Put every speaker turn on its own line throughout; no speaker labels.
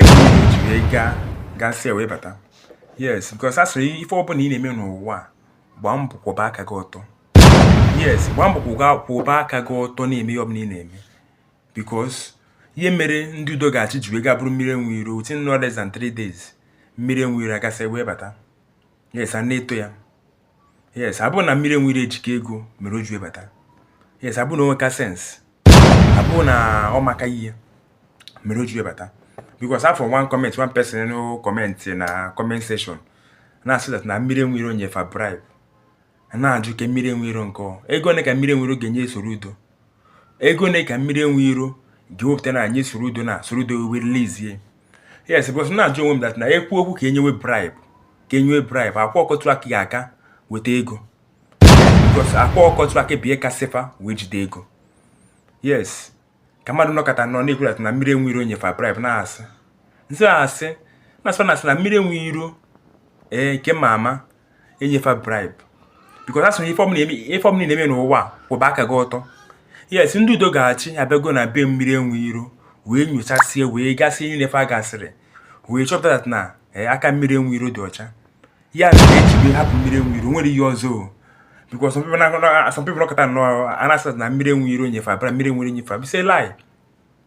jiri gaa gasị wee bata yes because a sịrị ife ọbụla ị na-eme n'ụwa gbaa mbọ kwụba aka gị ọtọ yes gbaa mbọ kwụba aka gị ọtọ na-eme ihe ọbụla ị na-eme because ihe mere ndị udo ga-achị ji wee gaa buru mmiri enwe iro within no less than 3 days mmiri enwe iro agasị wee bata yes a na-eto ya yes abụ na mmiri enwe iro ejika ego mere o ji ebata yes abụ na o nweka sense abụ na ọ maka ihe mere o ji ebata because afụ m one comment one person no comment na comment section na-asị that na mmiri enwe iro nye fa bribe na-ajụ ke mmiri enwe iro nke ego one ka mmiri enwe iro ga-enye Soludo ego one ka mmiri enwe iro ga-ewepụta na-enye Soludo na Soludo wee release ya yes because na-ajụ onwe m that na-ekwu okwu ka e nyewe bribe ka e nyewe bribe Akwa Ọkụkọ Tiwara Akị ga-aka weta ego because Akwa Ọkụkọ Tiwara Akị bụ ya kasị fa wee jide ego yes ka mmadụ nọkọta nọ na-ekwu that na mmiri enwe iro nye fa bribe na-asị nsị asị na-asị na asị na mmiri enwe iro ee nke ma ama enye fa bribe because a sị na ife ọbụla ị na-eme n'ụwa kwụba aka gị ọtọ yes ndị udo ga-achị abịago na be mmiri enwe iro wee nyochasie wee gasị ihe nine fa gasịrị wee chọpụta na eh, aka mmiri enwe iro dị ọcha ya mere e ji wee hapụ mmiri enwe iro o nwerọ ihe ọzọ because some people nọkọta nọ na-asị na mmiri enwe iro nye fa bribe mmiri enwe iro nye fa bribe is a lie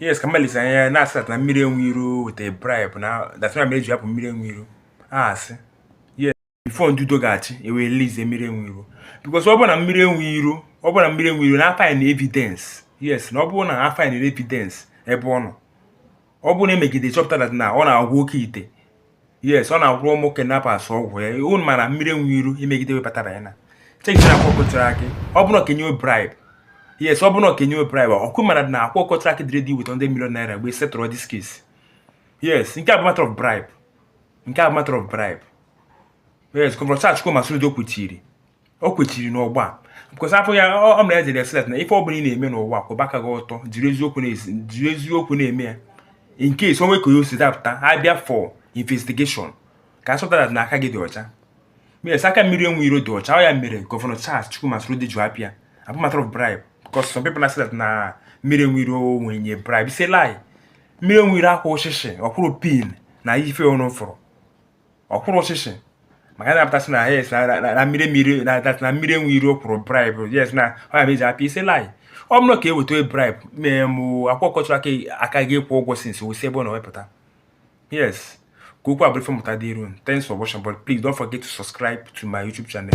yes ka mmadụ lesịa anya na-asị na mmiri enwe iro weta bribe na that's why mere e ji hapụ mmiri enwe iro asị yes before ndị udo ga-achị ewee release mmiri enwe iro because ọ bụ na mmiri enwe iro ọ bụ na mmiri enwe iro na a find evidence yes na ọ bụrụ na a find evidence ebe ọ nọ ọ bụrụ na e megide chọpụta na ọ na-agwọ oke ite yes ọ na-agwọrọ ụmụ kidnappers ọgwụ ya unu mara mmiri enwe iro emegide webatara ya na chekitara Akwa Ọkụkọ Tiwara Akị ọ bụrụ ka e nye bribe yes ọ bụrụ ka e nye bribe ọkụ mara na Akwa Ọkụkọ Tiwara Akị dị ready iweta 100 million naira wee settle this case yes nke a bụ matter of bribe nke a bụ matter of bribe yes gọvanọ Charles Chukwuma Soludo kwechiri o kwechiri n'ọgbọ because afọ ya ọ mere e jiri sị that na ife ọbụla ị na-eme n'ụwa kwụba aka gị ọtọ jiri eziokwu na-eme ya in case o nwee ka ya o si dapụta ha bịa for investigation ka a chọpụta na aka gị dị ọcha yes aka mmiri enwe iro dị ọcha ọ ya mere gọvanọ Charles Chukwuma Soludo ji hapụ ya abụ matter of bribe because some people say that na mmiri enwe iro nyere bribe is a lie mmiri enwe iro akwụrọ shishi ọ kwụrọ pin na ife unu fụrụ ọ kwụrọ shishi maka na a pụta sị na yes na mmiri mmiri na that na mmiri enwe iro kwụrụ bribe yes na ọ ya mere e ji hapụ ya is a lie ọ bụrụ ka e weta bribe mee mụ Akwa Ọkụkọ Tiwara Akị ga-aka akwụ ụgwọ since wee si ebe ọ nọ wee pụta yes ka okwu a bụrụ ife mmụta dịrị unu thanks for watching but please don't forget to subscribe to my youtube channel